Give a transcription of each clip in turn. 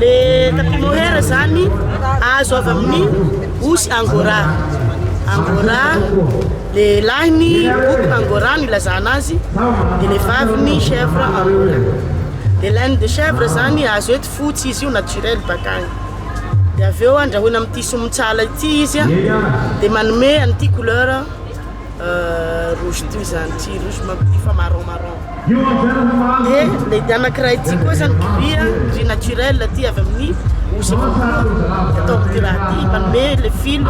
le tapis mohair zany azo avy amin'ny osy angora angora le lahiny book angora no ilazana azy de le vaviny chèvre angora de laine de chèvre zany azo eto Fotsy izy io naturel baka agny. Dia avy eo andrahoina amin'ity somontsala ity izy dia manome an'ity couleur rouge ity zany. Tsy rouge mampity fa marron marron. Dia ilay dia anankiray ity koa zany gris, gris naturel ity avy amin'ny osy avy amin'ny atao amin'ity raha ity manome ilay fil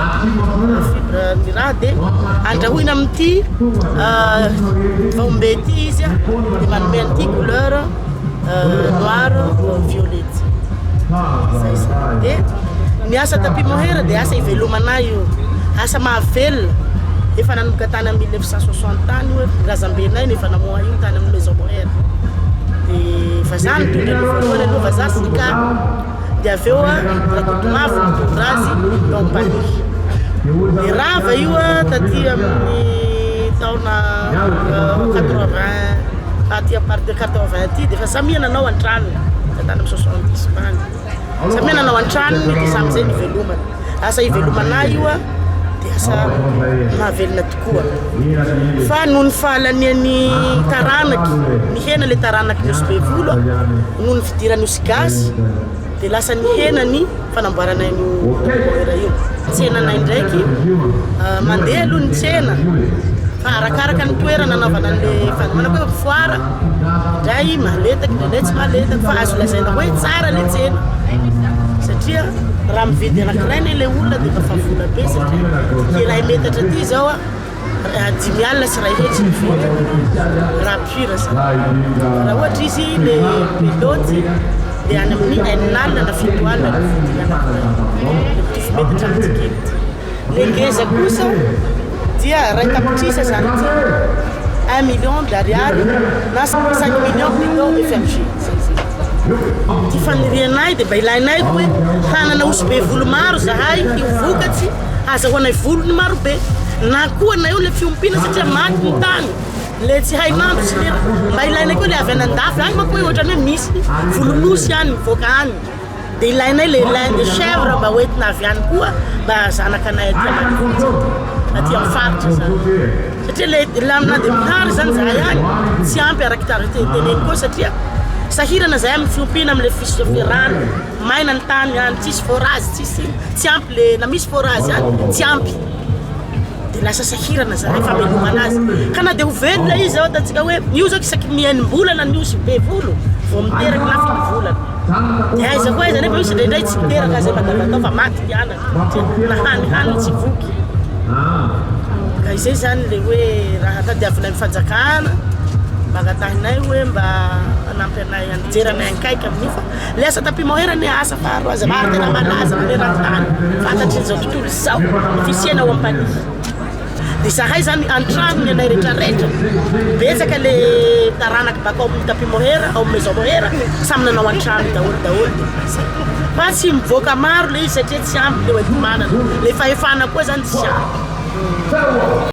fibre ny raha dia andrahoina amin'ity vaombe ity izy dia manome an'ity couleur. noir violet de ny asa tapis mohair de asa ivelomana io asa mahavelona efa nanomboka tany amin'ny 1960 tany hoe razambenay no efa namoha io tany amin'ny maison mohair de vazaha nitondra ny voalohany aloha vazaha sy ny kapa dia avy eo Rakotomavo nitondra azy tao Paris. Dia rava io taty amin'ny taona 80 aty à partir de 80 aty dia efa samia nanao an-tranony ka tany amin'ny 70 tany samia nanao an-tranony dia samy izay nivelomana asa ivelomanà io dia asa mahavelona tokoa koa fa noho ny fahalanian'ny taranaky nihena ilay taranaky ny osy bevolo noho ny fidiran'ny osy gasy dia lasa nihena ny fanamboarana io beurre io tsenanay ndraiky ah, mandeha aloha ny tsena fa arakaraka ny toerana anaovana an'ilay fanomana hoe foara indray mahaletaky indraindray tsy mahaletaky fa azo lazaina hoe tsara ilay tsena satria Raha mividy anankiray anie ilay olona dia efa efa vola be satria iray metatra aty izao a dimy alina sy iray hetsy ny vidiny raha pur izany. Raha ohatra izy ilay be loads dia any amin'ny enina alina na fito alina ny vidiny anankiray. Mitovy metatra amintsika eto. Le ngeza kosa dia ray tapitrisa zany ity un million de ariary na cinq millions plutôt FMG zay zay. Ty fanirianay dia mba ilainay hoe hanana osy be volo maro zahay io vokatsy hazahoanay volony maro be na koa na eo le fiompiana satria maty ny tany le tsy hay mandro tsy le mba ilainay koa le avy any andafy any manko hoe ohatrany hoe misy volon'osy any mivoaka any. Dia ilainay le lin de chèvre mba ho entina avy any koa mba zanaka anay aty ambanivohitra aty amin'ny faritra zany satria le lin na dia mihary zany zahay any tsy ampy araky tariny teny teneniko eo satria sahirana zahay amin'ny fiompiana amin'le fisotrofe rano maina ny tany any tsisy forage tsisy iny tsy ampy le na misy forage any tsy ampy dia lasa sahirana izany famelomana azy ka na dia ho velona izy ao ataontsika hoe io zao isaky ny enim-bolana ny osy be volo vao miteraka na fito volana dia aiza koa aiza nefa misy indraindray tsy miteraka azy mandavatao fa maty ny anany na hany hany tsy voky ka izay izany le hoe raha tadiavinay ny fanjakana mba angatahinay hoe mba hanampy anay hijery anay akaiky amin'io fa Ilay asa tapis-mohair anie asa faharoa azafady ary tena malaza maneran-tany fantatrin'izao tontolo izao ny fisiana ao Ampanihy. Dia izahay izany an-tranony anay rehetrarehetra, betsaka ilay taranaka bakao amin'ny tapis-mohair, ao amin'ny maison mohair, samy nanao an-trano daholo daholo dia mba izay. Fa tsy mivoaka maro ilay izy satria tsy ampy ilay hoenti-manana, ilay fahefana koa izany tsy ampy.